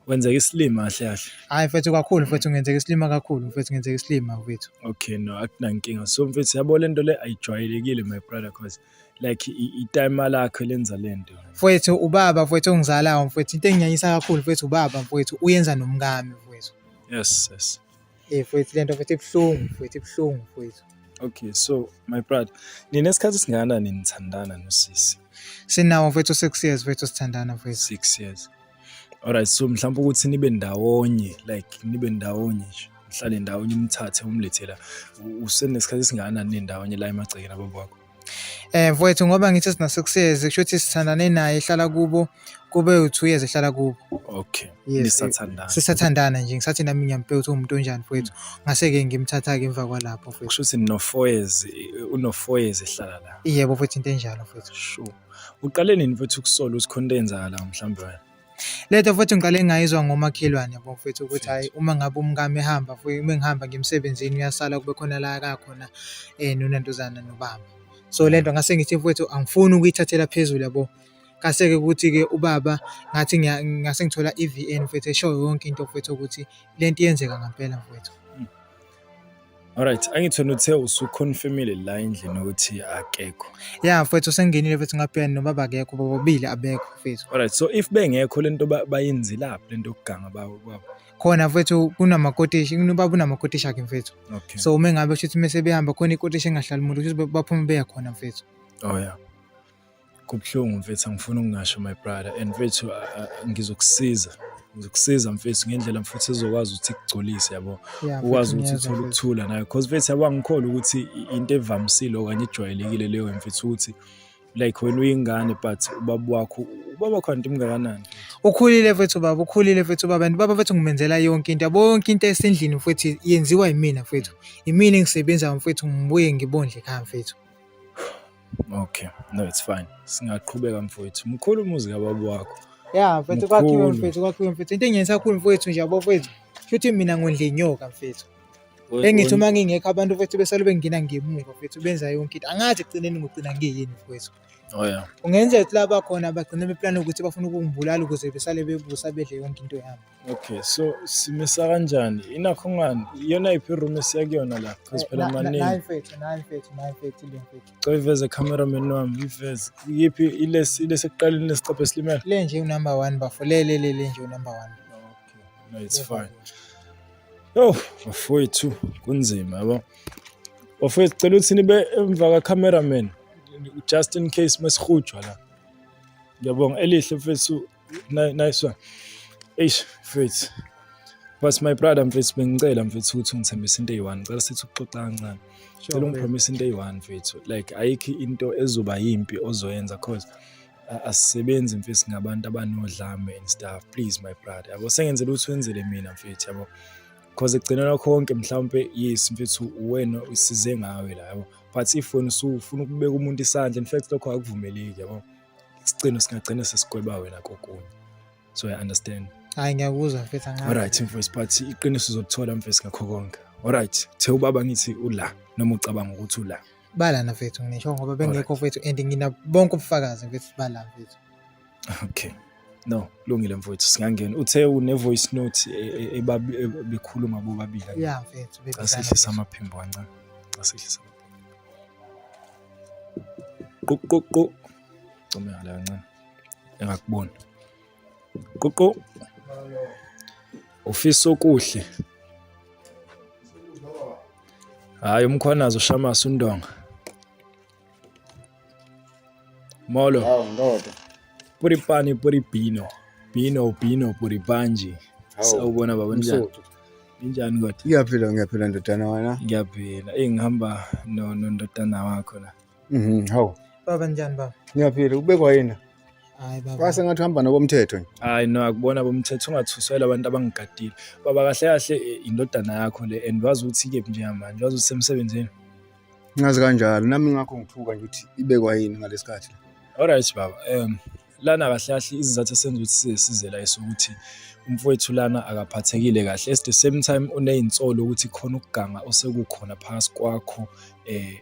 Wenzeka isilima kahle kahle. Hayi mfethu kakhulu mfethu ngenzeka isilima kakhulu mfethu ngenzeka isilima mfethu. Okay no akunankinga. So mfethu yabo lento le ayijwayelekile my brother cause like itime lakhe lenza lento. Mfethu ubaba mfethu ongizalayo mfethu into enginyanyisa kakhulu mfethu ubaba mfethu uyenza nomkami mfethu. Yes yes. Eh mfowethu lento mfowethu ibuhlungu mfowethu ibuhlungu mfowethu. Okay so my brother nina isikhathi singana ninithandana nosisi. Sinawo mfowethu 6 years mfowethu sithandana mfowethu. 6 years. Alright so mhlawumbe ukuthi nibe ndawonye like nibe ndawonye nje. Nihlale ndawonye umthathe umlethela usenesikhathi singana nendawonye la emagcekeni ababakho. Eh mfowethu ngoba ngithi sina six years kusho ukuthi sithandane naye ehlala kubo kube u2 years ehlala kubo. Okay. Yes, Nisathandana. Sisathandana nje ngisathi nami ngiyampe ukuthi umuntu onjani mfowethu. Ngase ke ngimthatha ke emva kwalapho mfowethu. Kusho ukuthi no four years uno four years ehlala la. Yebo mfowethu into enjalo mfowethu. Sure. Uqale nini mfowethu ukusola ukuthi khona into eyenzakalayo mhlawumbe wena? Le nto futhi ngiqale ngayizwa ngomakhelwane yabo mfethu ukuthi hhayi uma ngabe umkami ehamba futhi uma ngihamba ngiya emsebenzini uyasala kube khona la aka khona um nonantuzana nobaba. So le nto ngase ngithi mfwethu angifuni ukuyithathela phezulu yabo. Ngase-ke ukuthi-ke ubaba ngathi ngase ngithola i-V_N mfwethu eshoyo yonke into mfwethu ukuthi le nto iyenzeka ngampela mfwethu. Alright, angithona uthe usuconfirmile la endlini ukuthi akekho. Yeah mfethu sengenile mfethu ngapha nobaba akekho bobabili abekho mfethu. Alright, so if bengekho lento bayenzelaphi lento yokuganga bawo baba. Khona mfethu kunamakotishi, kunobaba unamakotishi akhe mfethu. Okay. So uma ngabe shuthi mase behamba khona ikotishi engahlali umuntu ukuthi baphume beya khona mfethu. Oh yeah. Kubuhlungu mfethu angifuni ukungasho my brother and mfethu ngizokusiza ngizokusiza mfethu ngendlela mfethu ezokwazi ukuthi kugcolise yabo ukwazi ukuthi uthole ukuthula nayo because mfethu yabo angikhole ukuthi into evamisile okanye ejwayelekile leyo mfethu ukuthi like wena uyingane but ubaba wakho ubaba wakho anti mngakanani ukhulile mfethu baba ukhulile mfethu baba and baba mfethu ngimenzela yonke into yabo yonke into esendlini mfethu yenziwa yimina mfethu yimina engisebenzayo mfethu ngibuye ngibondle khaya mfethu Okay, no it's fine. Singaqhubeka mfowethu. Mkhulu umuzi kababa wakho. Yeah, mfethu kwakhiwe mfethu, kwakhiwe mfethu. Into engenisa kakhulu mfethu nje yabo mfethu. Futhi mina ngondle inyoka mfethu. Engithi uma ngingekho abantu mfethu besale bengina ngemuva mfethu benza yonke into. Angathi ekugcineni ngigcina ngiyini mfethu. Oh yeah. Kungenzeka ukuthi laba khona bagcina beplana ukuthi bafuna ukungibulala ukuze besale bebusa bedle yonke into yami. Okay, so simisa kanjani? Inakho ngani? Iyona iphi room esiya kuyona la? Because phela maningi. Nayi mfethu, nayi mfethu, nayi mfethu le mfethu. Cela iveze cameraman wami, iveze. Iyiphi ilesi ilesi ekuqaleni lesiqaphe silimele? Le nje unumber 1 bafo. Le le le le nje unumber 1. Okay, no it's fine. Yo, bafowethu kunzima yabo. Bafowethu cela ukuthi nibe emva ka cameraman just in case mesihujwa la. Ngiyabonga elihle mfethu. nice one eish mfethu but my brother mfethu bengicela mfethu ukuthi ungithembise into eyi-one ngicela sithi ukuxoxa kancane cela ungipromise into eyi-one mfethu like ayikho into ezoba yimpi ozoyenza cause asisebenzi mfethu ngabantu abanodlame and stuff please my brother yabo sengenzela ukuthi wenzele mina mfethu yabo cause ekugcinela konke mhlawumpe yes mfethu wena usize ngawe la yabo but if wena usufuna ukubeka umuntu isandla in fact lokho akuvumeleki yabo isicino singagcina sesigweba wena kokunye so i understand hayi ngiyakuzwa mfethu angazi alright mfethu but iqiniso uzolithola mfethu ngakho konke alright the ubaba ngithi ula noma ucabanga ukuthi ula balana mfethu ngisho ngoba bengekho mfethu and ngina bonke ubufakazi mfethu bala mfethu okay no lungile mfowethu singangena uthe une voice note e, e, e, bekhuluma bobabili ya mfethu asehlisa amaphimbo ancane asehlisa quququ come ngale kancane engakuboni ququ ufisa okuhle hayi umkhwanazi ushamasa undonga Molo. Hawu ndoda. Puripani puribino. Bino bino puripanji. Sawubona baba njani? Injani kodwa? Ngiyaphila ngiyaphila ndodana wena. Ngiyaphila. Ey ngihamba no ndodana wakho la. Mhm. Hawu. Baba njani baba? Ngiyaphila ubekwa yena. Hayi baba. Kwase ngathi uhamba nobomthetho nje. Hayi no akubona bomthetho ungathusela abantu abangigadile. Baba kahle kahle eh, indodana yakho le and wazi ukuthi ke nje manje wazi usemsebenzini. ngazi kanjalo nami ngakho ngithuka nje ukuthi ibekwa yini ngalesikhathi alright baba um lana kahle kahle izizathu esenza ukuthi size size la esokuthi umfowethu lana akaphathekile kahle at the same time uneyinsolo ukuthi khona ukuganga osekukhona phakathi kwakho eh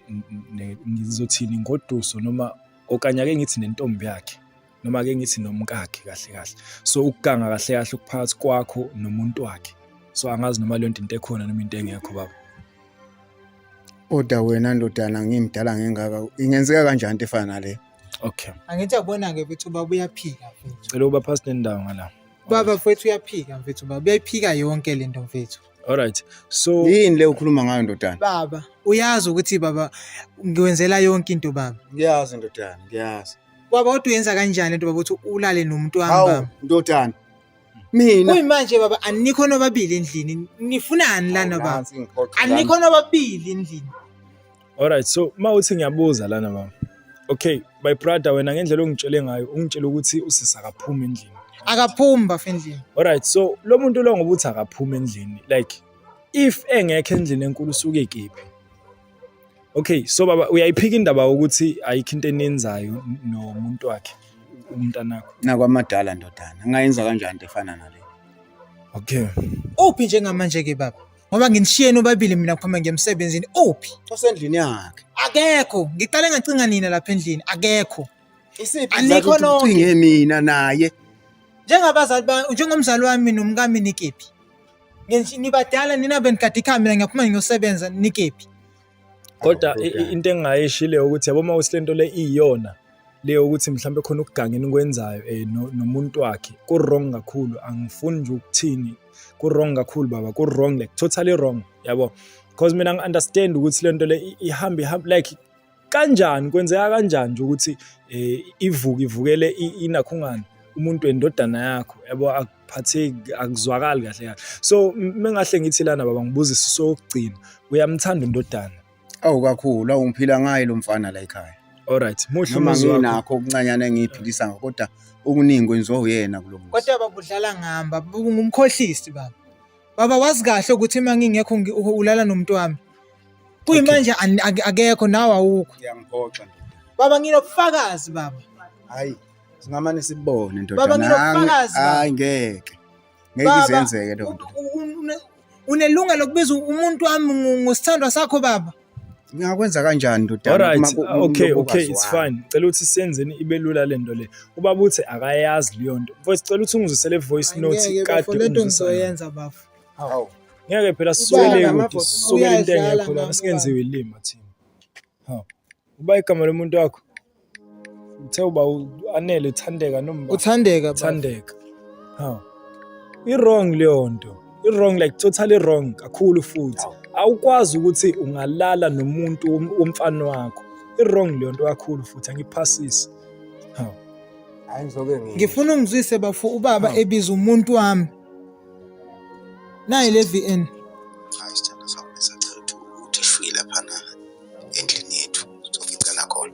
ngizothini ngoduso noma okanye ake ngithi nentombi yakhe noma ke ngithi nomkakhe kahle kahle so ukuganga kahle kahle ukuphakathi kwakho nomuntu wakhe so angazi noma leyo nto into ekhona noma into engekho baba oda wena ndodana ngimdala ngengaka ingenzeka kanjani into efana nale okay angithi abona ke futhi ubaba uyaphika futhi cela uba past nendawo ngala baba futhi uyaphika mfethu ubaba uyayiphika yonke le nto mfethu Alright. So yini le ukhuluma ngayo ndodana? Baba, uyazi ukuthi baba ngiwenzela yonke into baba. Ngiyazi ndodana, ngiyazi. Baba kodwa uyenza kanjani lento baba ukuthi ulale nomuntu wami Hawu baba? ndodana. Mina Kuyimanje baba anikho nobabili endlini. Nifunani lana baba? Nansi ngiphoxa lana. Anikho nobabili endlini. Alright, so uma uthi ngiyabuza lana baba. Okay, my brother wena ngendlela ongitshele ngayo, ungitshela ukuthi usisi akaphumi endlini. Akaphumi bafo endlini. Alright, so lo muntu lo ngoba uthi akaphumi endlini. Like if engekho endlini enkulu usuke kephi? Okay, so baba uyayiphika indaba ukuthi ayikho into enenzayo nomuntu wakhe umntanakho. Nakwamadala ndodana, ngayenza kanjani into efana nale? Okay. Uphi njengamanje ke baba? Ngoba nginishiyeni obabili mina khoma ngemsebenzini. Uphi? Osendlini yakhe. Akekho. Ngiqale ngacinga nina lapha endlini. Akekho. Isiphi Anikho nonke. ucinge mina naye? Njengabazali ba njengomzali wami nomkami nikephi? nibadala nina benikade ikhamera ngiyaphuma ngiyosebenza nikephi kodwa into engingayishile ukuthi yabo uma ukuthi lento le iyona le ukuthi mhlawumbe khona ukuganga enikwenzayo eh, nomuntu wakhe ku-wrong kakhulu angifuni nje ukuthini ku-wrong kakhulu baba ku-wrong like totally wrong yabo because mina ngi-understand ukuthi lento le ihamba ihamba like kanjani kwenzeka kanjani nje ukuthi eh, ivuke ivukele inakhungana umuntu wendodana yakho yabo akuphatheki akuzwakali kahle kahle so mengahle ngithi lana baba ngibuzise sokugcina uyamthanda undodana awu kakhulu awungiphila ngaye lo mfana la ekhaya alright muhle noma nginakho okuncanyana engiyiphilisa ngakho kodwa okuningi kwenziwa uyena kulo muzi kodwa babudlala ngihamba ngumkhohlisi baba Baba wazi kahle ukuthi uma ngingekho ngi- u- ulala nomuntu wami. Kuyimanje ani- ake- akekho nawe awukho. Uyangiphoxa ndoda. Baba nginobufakazi baba. Hayi, singamane sibone ndoda. Baba, nami. nginobufakazi, baba. Hayi ngeke. Ngeke Baba, izenzeke loo nto. u- u- une- Unelungelo lokubiza umuntu wami ngo- ngosithandwa sakho baba. ngingakwenza kanjani ndodana Alright, uma ku- uma okay, ulobokazi okay, it's wami? fine. Cela ukuthi senzeni ibe lula le nto le. Ubaba uthi akayazi leyo nto. Mfowethu cela ukuthi ungizisele voice Ay, note ngeke kade bafo lento ungizisele. ngizoyenza bafo Hawu. Ngeke phela Ubala siswele ngama ukuthi voice, sisukele into uyadlala engekho lana ngami singenziwe ilima thina. Hawu. Uba igama lomuntu wakho Uthe uba anele uthandeka nomba. Uthandeka bafo. Uthandeka. Ha. I-wrong leyo nto. I-wrong like totally wrong kakhulu futhi. Awukwazi ukuthi ungalala nomuntu wom- womfana wakho. I-wrong leyo nto kakhulu futhi angiphasisi. Ha. Hayi ngizoke ngi. Ngifuna ungizwise bafo ubaba Hawu. ebiza umuntu wami. Nayi le VN. Hayi sithando sami besacela ukuthi ukuthi shwi laphana endlini yethu soficana khona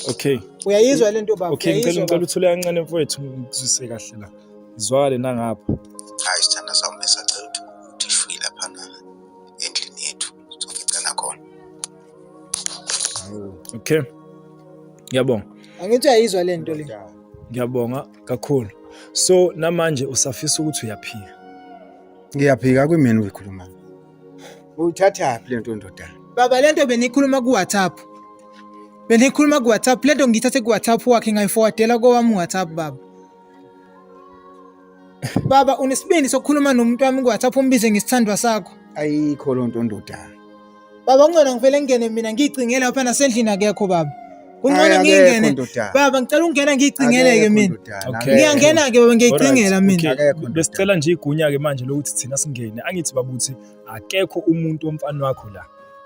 okay uyayizwa le nto baba okay ngicela ngicela uthule kancane mfowethu ngizwise kahle la ngizwakale nangapha hayi sithanda sami besacela ukuthi ukuthi shwi lapha na endlini yethu soficana khona okay ngiyabonga angithi uyayizwa le nto le ngiyabonga kakhulu so namanje usafisa ukuthi uyaphika ngiyaphika kwimini uyikhuluma Uyithathaphi le nto ndoda? Baba le nto beniyikhuluma ku-WhatsApp. Beniyikhuluma ku-WhatsApp. Le nto ngiyithathe ku-WhatsApp wakhe ngayifowadela kowami u-WhatsApp baba. Baba unesibindi sokukhuluma nomuntu wami ku-WhatsApp umbize ngesithandwa sakho. Ayikho loo nto ndoda. Baba ungcono ngivele ngingene mina ngiyicingela lapha nasendlini akekho baba. Kungcono ngingene. Baba ngicela ungena ngiyicingele-ke mina. Ngiyangena-ke baba ngiyicingela mina. Besicela nje igunya-ke manje lokuthi thina singene. Angithi babuthi akekho umuntu womfana wakho la.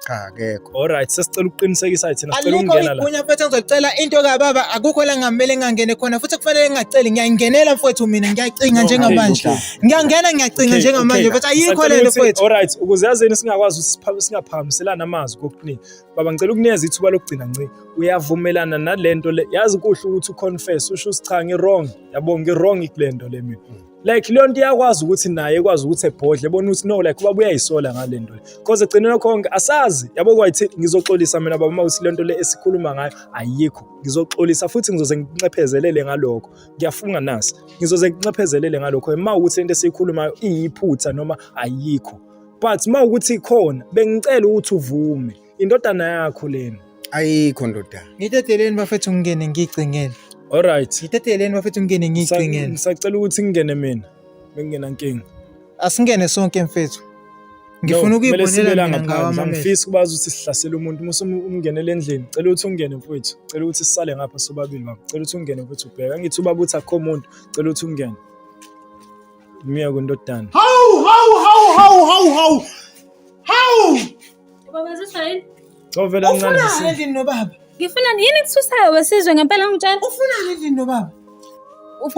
cha akekho alright sesicela ukuqinisekisa thina sicela ukungena la alikunya mfethu ngizocela into ka baba akukho la ngamele ngangene khona futhi kufanele ngingaceli ngiyayingenela mfethu mina ngiyacinga njengamanje ngiyangena ngiyacinga njengamanje mfethu ayikho lento mfethu alright ukuze yazeni singakwazi singaphakamiselana amazwi kokuningi Baba ngicela ukunikeza ithuba lokugcina nci. Uyavumelana nalento le. Yazi kuhle ukuthi uconfess usho ukuthi cha ngirong. Yabo ngirong kulento le mina. Mm. Like leyo nto iyakwazi ukuthi naye ekwazi ukuthi ebhodle bona ukuthi no like ubaba uyayisola ngalento le. Because egcineni konke asazi. Yabo kwathi ngizoxolisa mina baba mawuthi lento le esikhuluma ngayo ayikho. Ngizoxolisa futhi ngizoze nginxephezelele ngalokho. Ngiyafunga nasi. Ngizoze nginxephezelele ngalokho. Ema ukuthi into esiyikhulumayo iyiphutha noma ayikho. but uma ukuthi ikhona bengicela ukuthi uvume indodana yakho lena ayikho ndodana ngiteteleni bafethu ngingene ngiyicingele alright ngiteteleni bafethu ngingene ngiyicingele ngisacela ukuthi ngingene mina bengingena nkinga asingene sonke mfethu ngifuna ukuyibonela mina ngawo amamehlo ngifisa ukubazi ukuthi sihlasela umuntu uma umngenele endlini cela ukuthi ungene mfethu cela ukuthi sisale ngapha sobabili baba cela ukuthi ungene mfethu ubheka ngithi ubaba uthi akho muntu cela ukuthi ungene Myeko ndodana. Hawu hawu hawu hawu hawu hawu. Hawu. Baba ziswa yini? Covela kancane. Ufuna yini nobaba? Ngifuna yini kususayo wesizwe ngempela ngitshela. Ufuna yini nobaba?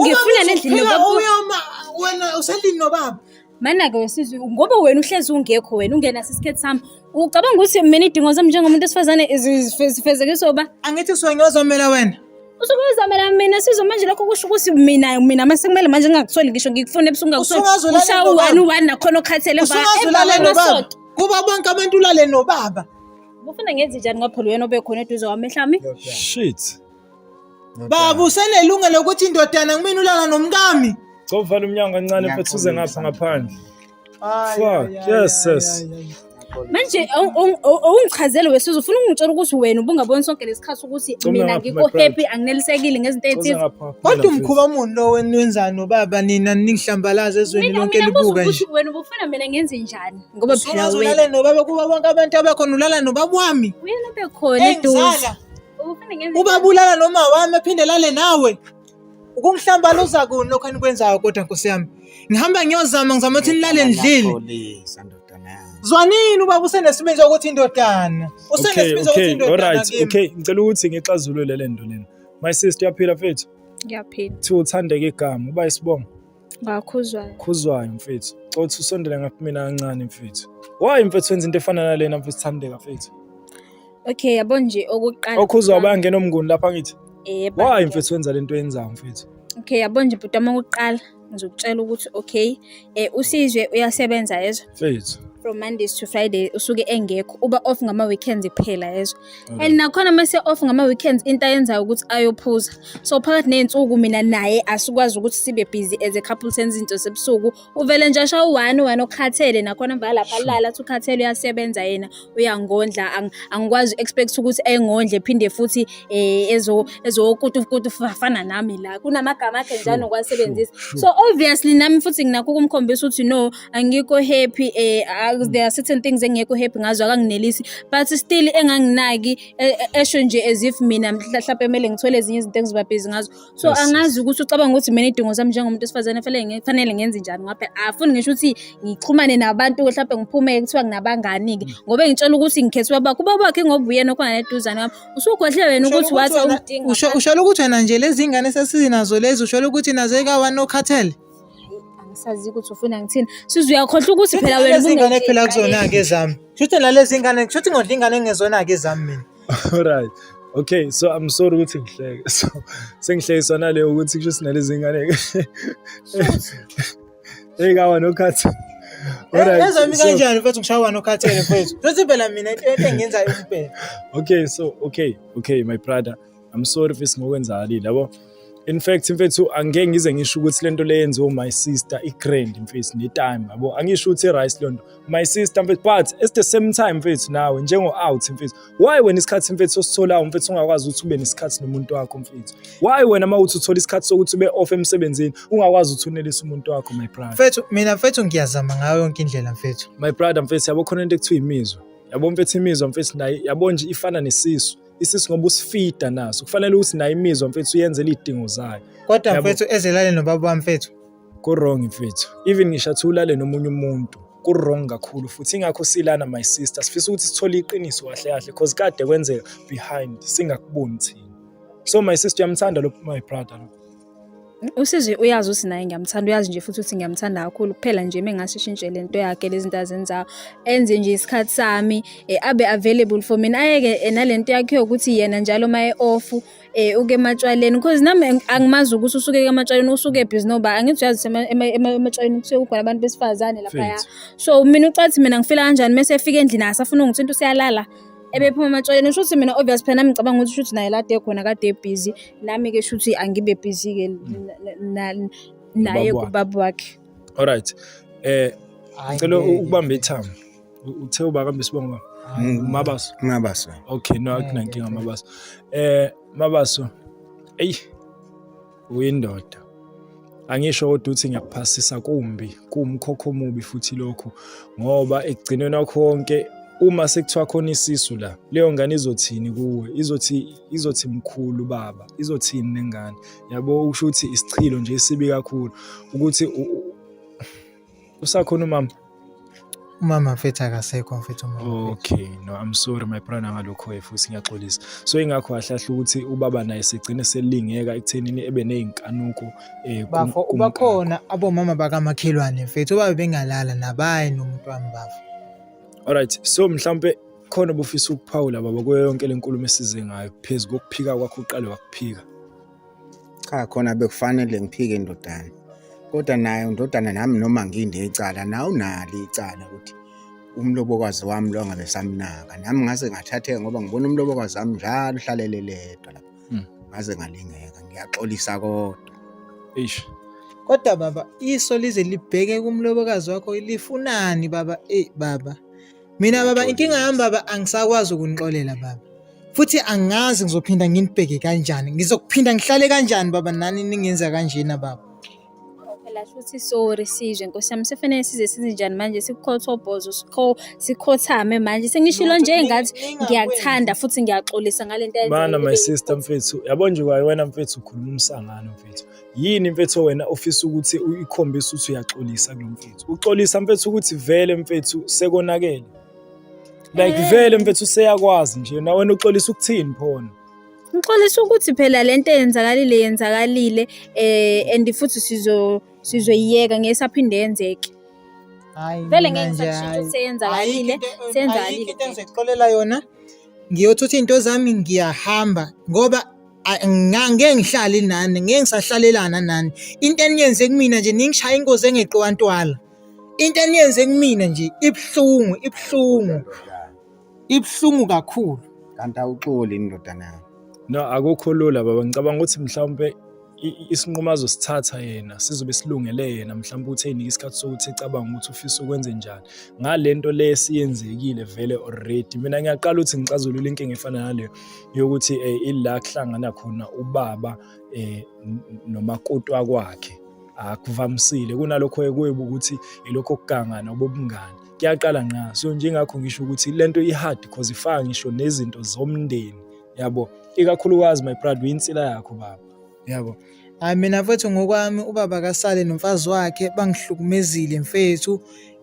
Ngifuna nendlini nobaba. Uyoma wena uselini nobaba. Mana-ke wesizwe ngoba wena uhlezi ungekho wena ungenasi isikhathi sami Ucabanga ukuthi mina idingo zami njengomuntu esifazane zifezekiswa uba? Angithi usuke ngiyozomela wena. Usuke uzamela mina sizwe manje lokho kusho ukuthi mina mina mase kumele manje ngingakusoli ngisho ngikufune ebusuku ngakusoli. Ushawa one one nakhona okhathele ba. Usungazulale nobaba. Kuba bonke abantu ulale nobaba. Ufuna ngenze njani ngoba phela uyena obekhona eduze kwami mhlawumbe? Shit. Baba usenelungelo ukuthi indodana kumina ulala nomkami. Cova lomnyango kancane mfethu uze ngapha ngaphandle. Ay, Fuck, ay, ay, yes, ay, yes. ay, ay. manje awu- awu- awu- awungichazele wesizwe ufuna ukungitshela ukuthi wena ubungaboni sonke lesikhathi ukuthi Coma mina ngapha, ngikho my brother. happy anginelisekile ngezinto Cause ezithize ngapha- Kodwa umkhuba muni lo wenu wenzani nobaba nina ningihlambalaza ezweni mina lonke mina buza libuka nje. ukuthi wena ubufuna mina ngenze njani ngoba phela Usungaze wena ulale nobaba kuba bonke abantu abakhona ulala nobaba wami. wena bekhona eduze Engizala. ubufuna ngenze Ubaba ulala noma wami aphinde lale nawe. Ukungihlambalaza kuni lokho enikwenzayo kodwa Nkosi yami. Ngihamba ngiyozama ngizama ukuthi nilale ndlile. Polisa ndodana yami. Zwanini ubaba usenesibindi sokuthi indodana. Usenesibindi sokuthi okay, indodana. alright. kimi. Okay, ngicela ukuthi ngixazulule le nto lena. My sister uyaphila mfethu? Ngiyaphila. Kuthiwa uthandeka igama, uba isibongo. Ngakhuzwayo. Khuzwayo mfethu. Xothi usondele ngapha mina kancane mfethu. Why mfethu wenza into efana nalena mfethu Thandeka mfethu? Okay, yabo nje okuqala. Okhuzwa bayangena omnguni lapha ngithi. Yebo. Why mfethu wenza lento yenzayo mfethu? Okay, yabo nje bhuti wami okuqala ngizokutshela ukuthi okay, eh usizwe uyasebenza yezwa. Mfethu. From Mondays to Friday usuke engekho. Uba off ngama weekends kuphela yezwa. and nakhona uma siya-off ngama-weekends into ayenzayo ukuthi ayophuza so phakathi ney'nsuku mina naye asikwazi ukuthi sibe busy as a couple senza izinto sebusuku uvele nje asha u-one u-one okhathele nakhona mva lapha alala athi ukhathele uyasebenza yena uyangondla angikwazi u-expect ukuthi engondle phinde futhi um ezokutukutu fana nami la kunamagama akhe njani okwasebenzisa so obviously nami futhi nginakho ukumkhombisa ukuthi no angikho happy eh ah, there are certain things engekho happy ngazo akanginelisi but still enganginaki e- e- esho nje as if mina mhla- mhlawumbe kumele ngithole ezinye izinto engizobabhizi ngazo so Yes, angazi ukuthi ucabanga ukuthi mina idingo zami njengomuntu wesifazane fanele nge- fanele ngenze njani ngoba phela afuni ngisho ukuthi ngixhumane nabantu mhlawumbe ngiphume kuthiwa nginabangani-ke Mm. ngoba ngitshela ukuthi ngikhethwe ubaba kuba bakhe ngoba uyena okhona neduzane wami usugodle wena ukuthi Usholo wathi wena- awudingi usho- usholo ukuthi wena nje lezi ngane sesinazo lezi usholo ukuthi nazo ekawanokhathele angisazi ukuthi ufuna ngithini size uyakhohlwa ukuthi phela wena Lezi ngane ubungeke- kuphela kuzona-ke ezami shuthi nalezi ngane shuthi ngodla ingane engezona-ke ezami mina Alright. Okay, so I'm sorry ukuthi ngihleke. So sengihlekiswa naleyo ukuthi kusho sinalezi ngane. Hey kawa no cut. Alright. ezami so- kanjani mfethu ngishawa nokhathele mfethu shuthi phela mina into engiyenzayo kuphela Okay, so okay, okay, my brother. I'm sorry fisi ngokwenzakalile yabo in fact mfethu angeke ngize ngisho ukuthi lento le yenziwe my sister i grand mfethu ne time yabo angisho ukuthi rice lonto my sister mfethu but at the same time mfethu nawe njengo out mfethu why wena isikhathi mfethu ositholayo mfethu ungakwazi ukuthi ube nesikhathi nomuntu wakho mfethu why wena mawuthi uthola isikhathi sokuthi ube off emsebenzini ungakwazi ukuthi unelise umuntu wakho my brother mfethu mina mfethu ngiyazama ngayo yonke indlela mfethu my brother mfethu yabo khona into ekuthiwa imizwa yabo mfethu imizwa mfethu naye yabo nje ifana nesisu isisi ngoba usifida naso kufanele ukuthi nayo imizwa mfethu uyenzele iy'dingo zayo kodwa Yabo. mfethu ezelale nobaba wami mfethu kurong mfethu even ngisho athi ulale nomunye umuntu kurong kakhulu futhi ingakho silana my sister sifisa ukuthi sithole iqiniso kahle kahle cause kade kwenzeka behind singakuboni thina so my sister uyamthanda lo my brother lo Usizwe uyazi ukuthi naye ngiyamthanda, uyazi nje futhi ukuthi ngiyamthanda kakhulu. Kuphela nje uma engase eshintshe le nto yakhe, lezi zinto azenzayo, enze nje isikhathi sami, eh, abe available for mina. Ayeke eh, nale nto yakhe yokuthi yena njalo uma e-off eh, uke ematshwaleni because nami angimazi ukuthi usuke ematshwaleni usuke busy noba angithi uyazi ematshwaleni kusuke kukhona abantu besifazane laphaya. So mina ucathi mina ngifila kanjani mese efika endlini asafuna ungithinta useyalala. ebephuma ematshwaleni usho ukuthi mina obvious phela nami ngicabanga ukuthi shuthi naye lade khona kade ebhizi nami ke shuthi angibe bhizi ke naye kubaba wakhe alright eh ngicela ukubamba ithama uthe ubakambe sibonga mm. mabaso mabaso okay no akunankinga mabaso eh mabaso eyi uyindoda angisho kodwa ukuthi ngiyakuphasisa kumbi kuwumkhokho omubi futhi lokhu ngoba ekugcineni wakho konke uma sekuthiwa khona isisu la leyo ngane izothini kuwe izothi izothi mkhulu baba izothini nengane yabo usho ukuthi isichilo nje sibi kakhulu ukuthi usakhona umama umama mfethu akasekho mfethu umama okay no i'm sorry my brother ngalokho futhi ngiyaxolisa so ingakho wahlahla ukuthi ubaba naye sigcine selingeka ekuthenini ebe nezinkanuko eh bafo ubakhona abomama bakamakhelwane mfethu obabe bengalala nabaye nomuntu wami bafo alright so mhlambe khona obufisa ukuphawula baba kuyo yonke lenkulumo esize ngayo phezulu kokuphika kwakho uqale wakuphika Cha khona bekufanele ngiphike indodana. Kodwa naye undodana nami noma nginde icala nawe unalo icala ukuthi umlobokazi wami lo ngabe samnaka. Nami ngase ngathatheka ngoba ngibona umlobokazi wami njalo uhlalele ledwa lapho. Hmm. Ngaze ngalingeka ngiyaxolisa kodwa. Eish. Kodwa baba iso lize libheke kumlobokazi wakho lifunani baba? Eyi baba. mina baba inkinga yami baba angisakwazi ukunixolela baba futhi angazi ngizophinda nginibheke kanjani ngizokuphinda ngihlale kanjani baba nani ningenza kanjena baba phela futhi sorry sizwe nkosi yami sefanele size sizinjani manje sikhothobhozo sikho sikhothame manje sengishilo nje ngathi ngiyakuthanda futhi ngiyaxolisa ngale nto bana my sister mfethu yabo nje kwaye wena mfethu ukhuluma umsangano mfethu yini mfethu wena ofisa ukuthi uyikhombise ukuthi uyaxolisa kulo mfethu uxolisa mfethu ukuthi vele mfethu sekonakele like eh. vele mfethu seyakwazi nje na wena uxolisa ukuthini phona ngixolisa ukuthi phela le nto eyenzakalile yenzakalile eh and futhi sizo sizoyiyeka ngeke saphinde yenzeke vele ngeke ngisashintsha ukuthi seyenzakalile senzakalile into engizixolela yona ngiyothutha into zami ngiyahamba ngoba ngeke ngihlale nani ngeke ngisahlalelana nani into eniyenze kumina nje ningishaya inkosi engeqiwa ntwala into eniyenze kumina nje ibuhlungu ibuhlungu ibuhlungu kakhulu kanti awuxoli indodana yami no akukho lula baba ngicabanga ukuthi mhlawumbe isinqumo azosithatha yena sizobe silungele yena mhlawumbe uthi eyinika isikhathi sokuthi ecabanga ukuthi ufisa ukwenze njani ngale nto le esiyenzekile vele already mina ngiyaqala ukuthi ngixazulule inkinga efana naleyo yokuthi eh, ila kuhlangana khona ubaba eh, nomakoti wakwakhe akuvamisile kunalokho ekwebu ukuthi ilokho kugangana obobungani kuyaqala nqa so njengakho ngisho ukuthi lento ihard because ifaka ngisho nezinto zomndeni yabo ikakhulukazi my brother uyinsila yakho baba yabo hayi mina mfethu ngokwami ubaba kasale nomfazi wakhe bangihlukumezile mfethu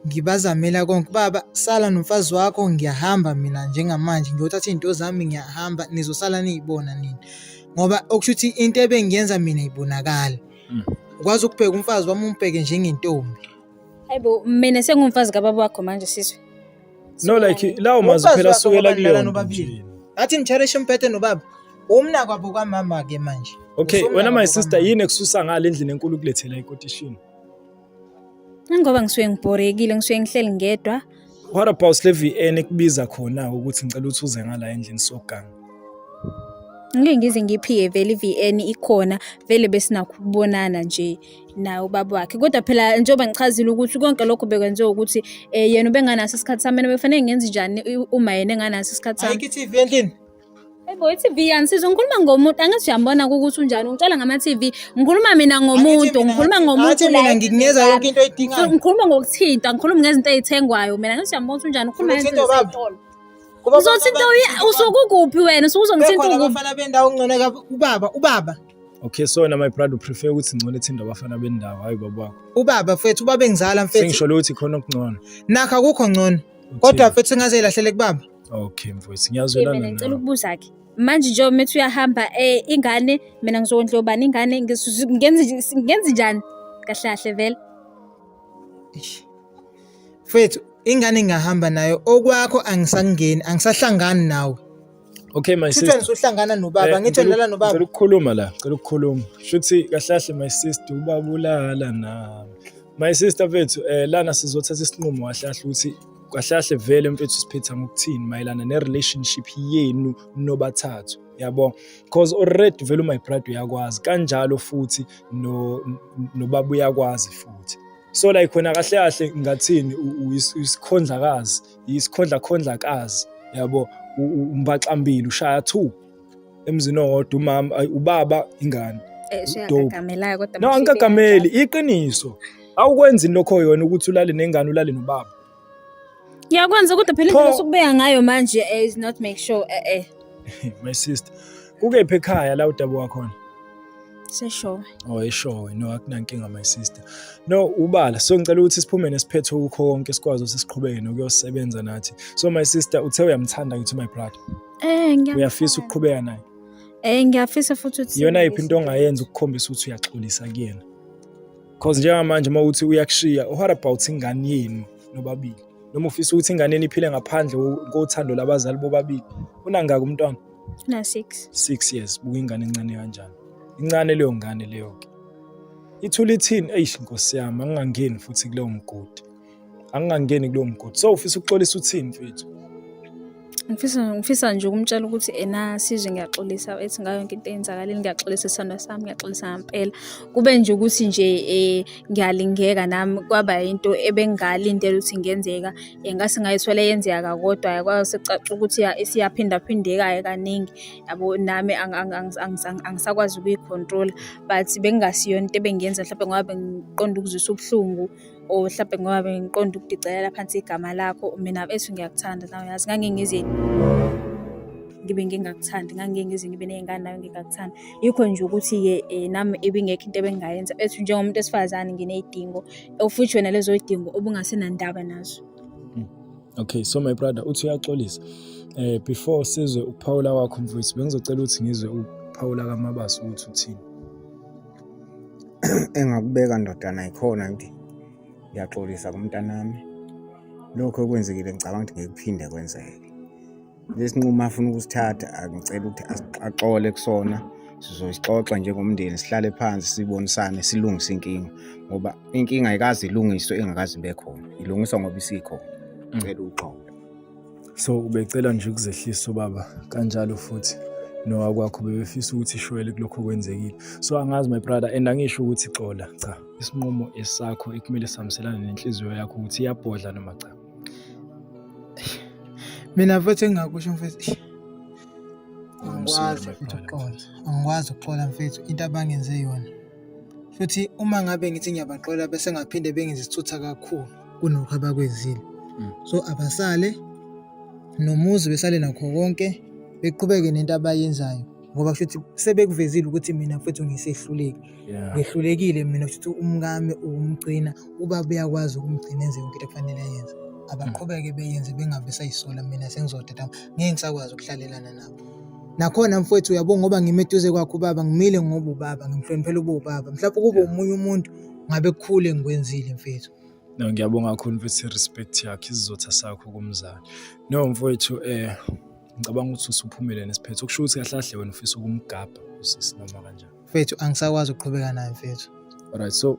ngibazamela konke baba sala nomfazi wakho ngiyahamba mina njengamanje ngiyothatha izinto zami ngiyahamba nizosala niyibona nini ngoba okusho ukuthi into ebengiyenza mina ibonakala mm. ukwazi ukubheka umfazi wami umbheke njengentombi hayibo mina sengumfazi kababa wakho manje sizwe no like lawo mazwi phela sukela kuleyo nobabili athi nitharishe umphethe nobaba umna kwabo kwamama ke manje okay wena my sister yini ekususa ngale endlini enkulu kulethela ikotishini Ingoba ngisuke ngibhorekile, ngisuke ngihleli ngedwa. What about le VN ekubiza khona ukuthi ngicela ukuthi uze ngala endlini soganga? Ngeke ngize ngiphiye vele i-VN ikhona, vele besinakho ukubonana nje. naye ubaba wakhe kodwa phela njengoba ngichazile ukuthi konke lokho bekwenziwa ukuthi um yena ubenganaso isikhathi sami mina bekufanele ngenze njani uma yena enganaso isikhathi sami ayikho i-tv endlini Ebo i-TV yanisiza ngikhuluma ngomuntu angathi uyambona ukuthi unjani ungitshela ngama-TV ngikhuluma mina ngomuntu ngikhuluma ngomuntu mina ngikunikeza yonke into oyidingayo ngikhuluma ngokuthinta ngikhuluma ngezinto ezithengwayo mina angathi uyambona ukuthi unjani ukhuluma ngezinto ezitolo uzothinta usuke ukuphi wena usuke uzongithinta ukuphi abafana bendawo ngcono ubaba ubaba Okay so na my pride prefer ukuthi ngcole ethinde abafana bendawo hayi baba wakho. Ubaba mfethu ubaba engizala mfethu. Sengisho ukuthi khona okungcono. Nakho akukho ngcono. Kodwa mfethu ngaze ilahlele kubaba. Okay mfethu ngiyazwelana. Mina ngicela ukubuza ke. Manje nje umethi uyahamba eh ingane mina ngizokondla ubani ingane ngenze ngenze njani? Kahle kahle vele. Mfethu ingane ngingahamba nayo okwakho angisangeni angisahlangani nawe. Okay my sister. Shuthi uhlangana nobaba, eh, ngithi ulala nobaba. Ngicela ukukhuluma la, ngicela ukukhuluma. Shuthi kahle kahle my sister ubaba ulala nami. My sister mfethu eh lana sizothatha isinqumo kahle kahle ukuthi kahle kahle vele mfethu siphetha ngokuthini mayelana ne relationship yenu nobathathu. yabo because already vele my brother uyakwazi kanjalo futhi no nobaba uyakwazi futhi so like khona kahle kahle ngathini uyisikhondlakazi yisikhondlakhondlakazi yabo umbaxambili ushaya two emzini owodwa umama ubaba ingane eh, no angikagameli iqiniso awukwenzi lokho yona ukuthi ulale nengane ulale nobaba ngiyakwenza kodwa phela indlela sokubeka ngayo manje eh, is not make sure eh eh my sister Kukephi ekhaya la udabuka khona? Seshowe. Oh, eshowe. No, akunankinga my sister. No, ubala. So ngicela ukuthi siphume nesiphetho ukho konke sikwazi ukuthi siqhubeke nokuyosebenza nathi. So my sister uthe uyamthanda ngithi my brother. Eh, ngiyafisa. Uyafisa ukuqhubeka naye? Eh, ngiyafisa futhi ukuthi Iyona iphi into ongayenza ukukhombisa ukuthi uyaxolisa kuyena? Cause njengamanje uma uthi uyakushiya, what about ingane yenu nobabili? Noma ufisa ukuthi ingane yenu iphile ngaphandle kothando labazali bobabili? Unangaki umntwana? na 6 6 years buka ingane encane kanjani incane leyo ngane leyo ke ithula ithini eish nkosi yami angingangeni futhi kuleyo mgodi angingangeni kuleyo mgodi so ufisa ukuxolisa uthini mfethu ngifisa ngifisa nje ukumtshela ukuthi ena sizwe ngiyaxolisa ethi ngayo yonke into eyenzakalile ngiyaxolisa isithandwa sami ngiyaxolisa ngampela kube nje ukuthi nje um ngiyalingeka nami kwaba yinto ebengingalindela ukuthi ingenzeka ngase ngayithwela yenzeka kodwa kwasecaca ukuthi isiyaphindaphindeka-ke kaningi yabo nami angisakwazi ukuyikhontrola but bekungasiyo into ebengiyenza mhlawumbe ngoba bengiqonda ukuzwisa ubuhlungu or mhlawumbe ngoba bengiqonda ukudicelela phansi igama lakho mina ethi ngiyakuthanda nawe yazi ngangingize ngibe ngingakuthandi ngangingize ngibe ney'ngane nawe ngingakuthandi yikho nje ukuthi-ke um nami ibingekho into ebengingayenza ethi njengomuntu wesifazane nginey'dingo of which wena lezo yidingo obungasenandaba nazo hmm. okay so my brother uthi uyaxolisa eh before sizwe ukuphawula kwakho mfowethu bengizocela ukuthi ngizwe ukuphawula kamabaso ukuthi uthini engakubeka ndodana ikhona ngithi ngiyaxolisa kumntanami lokho okwenzekile ngicabanga ukuthi ngeke kuphinde kwenzeke lesinqumo afuna ukusithatha angicela ukuthi axole kusona sizosixoxa njengomndeni sihlale phansi sibonisane silungise inkinga ngoba inkinga ayikazi ilungiswe engakazi ibe khona ilungiswa ngoba isikhona mm. cela uxolo so ubecela nje ukuzehlisa ubaba kanjalo futhi nowakwakho bebefisa ukuthi ishwele kulokho kwenzekile so angazi my brother and angisho ukuthi xola cha isinqumo esakho ekumele sihambiselane nenhliziyo yakho ukuthi iyabhodla noma cha mina mfethu engingakusho mfethu angikwazi futhi ukuxola angikwazi ukuxola mfethu into abangenze yona futhi uma ngabe ngithi ngiyabaxola bese ngaphinde bengenze isithutha kakhulu kunokho abakwenzile mm. so abasale nomuzi besale nakho konke beqhubeke nento abayenzayo ngoba kushuthi sebekuvezile ukuthi mina mfethu ngisehluleki Yeah. ngehlulekile mina kushuthi umkami ukumgcina uba beyakwazi ukumgcina enze yonke into ekufanele ayenze abaqhubeke beyenze bengabe sayisola mina sengizodeda ngeke ngisakwazi ukuhlalelana nabo nakhona mfowethu uyabo ngoba ngime eduze kwakho ubaba ngimile ngoba ubaba ngimhloniphela uba ubaba mhlawumbe kube omunye umuntu ngabe kukhule ngikwenzile mfethu no ngiyabonga kakhulu mfethu respect yakhe isizotha sakho kumzali no mfowethu eh ngicabanga ukuthi usuphumele nesiphetho kusho ukuthi kahle kahle wena ufisa ukumgabha usisi noma kanjani mfethu angisakwazi ukuqhubeka naye mfethu alright so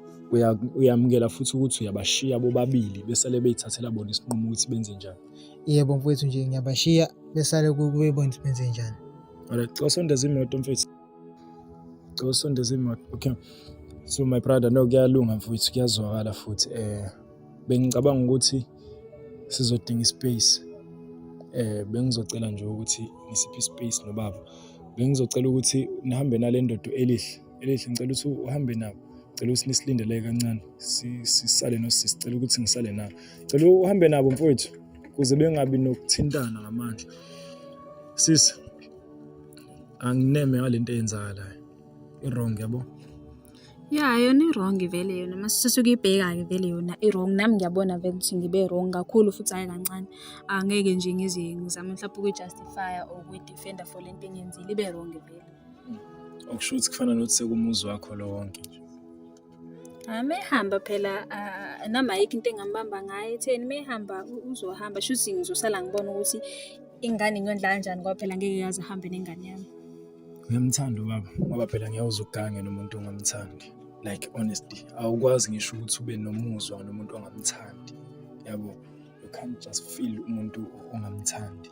uyamukela futhi ukuthi uyabashiya bobabili besale beyithathela bona isinqumo ukuthi benze njani yebo mfethu nje ngiyabashiya besale kube bona ukuthi benze njani alright cela sondeza imoto mfethu cela sondeza imoto okay so my brother no kuyalunga mfethu kuyazwakala futhi um Bengicabanga ukuthi sizodinga ispace. Eh bengizocela nje ukuthi ngisiphe ispace nobaba. Bengizocela ukuthi nihambe nale ndoda elihle. Elihle ngicela ukuthi uhambe nabo. Ngicela ukuthi nisilindele kancane. Sisale nosisi. Ngicela ukuthi ngisale nabo. Ngicela uhambe nabo mfowethu kuze bengabi nokuthintana ngamandla. Sisi angineme ngalento eyenzakalayo. I-wrong yabo. Ya yona i-wrong vele yona uma sisuke ibheka-ke vele yona i-wrong. Nami ngiyabona vele ukuthi ngibe wrong kakhulu futhi hhayi kancane. Angeke nje ngize ngizame mhlawumpe ukuyi-justify-a or ukuyi-defend-a for le nto engiyenzile, ibe wrong vele. Okusho ukuthi kufana nokuthi sekumuzi wakho lo wonke nje. Hhayi uma ehamba phela nami ayikho into engambamba ngayo ekutheni uma ehamba uzohamba shuthi ngizosala ngibona ukuthi ingane ngiyondla kanjani ngoba phela ngeke yazi ihambe nengane yami. Ngiyamthanda ubaba ngoba phela ngeke uze ugange nomuntu ongamthandi. Like honestly, awukwazi ngisho ukuthi ube nomuzwa nomuntu ongamthandi. Yabo, you can't just feel umuntu ongamthandi.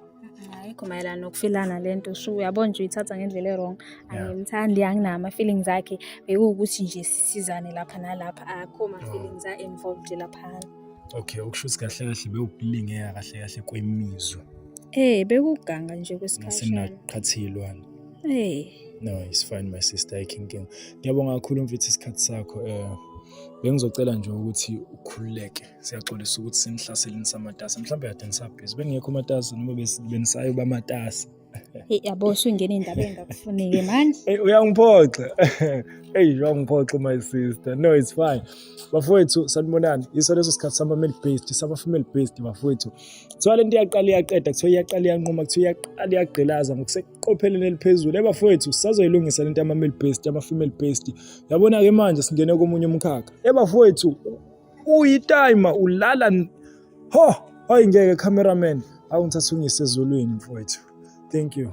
Ayikho mayelana nokufilana le nto shu uyabo nje uyithatha ngendlela e-wrong angimthandi anginawo ama-feelings akhe bekuwukuthi nje sisizane lapha nalapha akho ma-feelings a-involved laphana. Okay, okusho ukuthi kahle kahle bewukulingeka kahle kahle kwemizwa. Eh, bekuganga nje kwesikhashana. Sinaqhathilwana. Eh. No, it's fine my sister, I can go. Ngiyabonga kakhulu mfethu isikhathi sakho. Eh bengizocela nje ukuthi ukhululeke siyaxolisa ukuthi senihlaseleni samatasa mhlawumbe kade nisabhizi bengekho umatasa noma benisayo bamatasa Hey yabo usungena indaba engakufuneki manje. Hey uyangiphoxa. Hey uyangiphoxa my sister. No it's fine. Bafowethu sanibonani. Iso leso sikhathi sama male based, sama female based bafowethu. Kuthiwa lento iyaqala iyaqeda, kuthiwa iyaqala iyanquma, kuthiwa iyaqala iyagqilaza ngokuseqopheleni eliphezulu. Hey bafowethu sazoyilungisa lento yama male based, yama female based. Yabona ke manje singene komunye umkhakha. Hey bafowethu uyitime ulala Ho, hayi ngeke cameraman. Awu ngithatha ungise ezulwini mfowethu. Thank you.